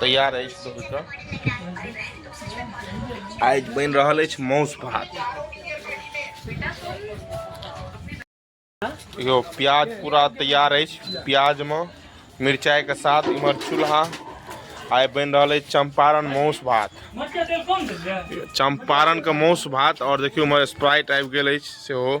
तैयार अछि आइ बनि रहल अछि माउस भात यो प्याज पूरा तैयार अछि प्याज में मिरचाई के साथ इमर चूल्हा आइ बन रहा है चंपारण माउस भात चंपारण के माउस भात और देखियो इमर स्प्राइट आबि गेल अछि सेहो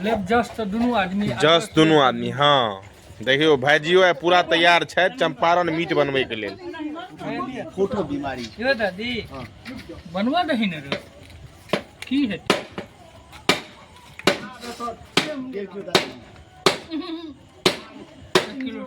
लेब जस तऽ दुनू आदमी जस दुनू आदमी हँ देखियौ भाइजियो आइ पूरा तैयार छथि चंपारण मीट बनबैके लेल फोटो बीमारी यो दादी बनवा दही ने रे की हेतै किलो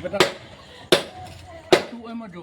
बेटा तू ओहिमे जो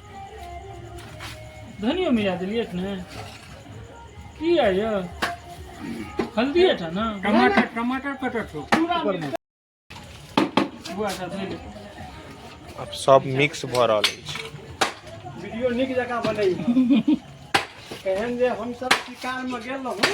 धनियो मिला देलियै कि ने की आइ यौ हल्दी टा ने टमाटर टमाटर कटै छौ पूरा बुआ सब धोइ ले अब सब मिक्स भऽ रहल अछि वीडियो नीक जकाँ बनैया एहन जे हमसब शिकारमे गेल रहौं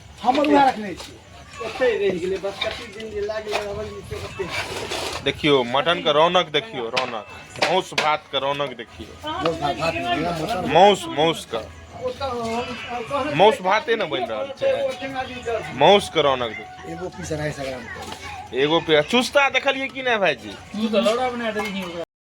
हमर उएह रखने छी देखियो मटन के रौनक देखियो रौनक मौस भात के रौनक देखियो मौस मौस का मौस भाते ने बन रहा है मौस के रौनक देखियो एगो पीस अढ़ाई सौ ग्राम एगो पे चुस्ता देखलिए कि नहीं भाई जी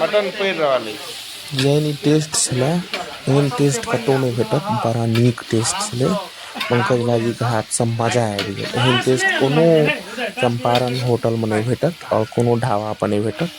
मटन पड़ि रहल अछि जेहन ई टेस्ट छलै एहन टेस्ट कतहु नहि भेटत बड़ा नीक टेस्ट छलै पंकज भाजीके हाथसँ मजा आबि गेल एहन टेस्ट कोनो चम्पारण होटलमे नहि भेटत आओर कोनो ढाबापर नहि भेटत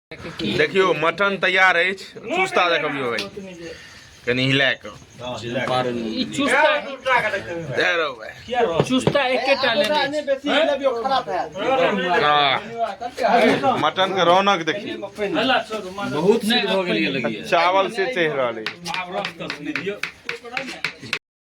देखियो मटन तैयार है चुस्ता देखियो भाई कनी हिला के ई चुस्ता दे रो भाई चुस्ता एकेटा ले मटन के रौनक देखिए बहुत से हो गेल चावल से चढ़ रहा है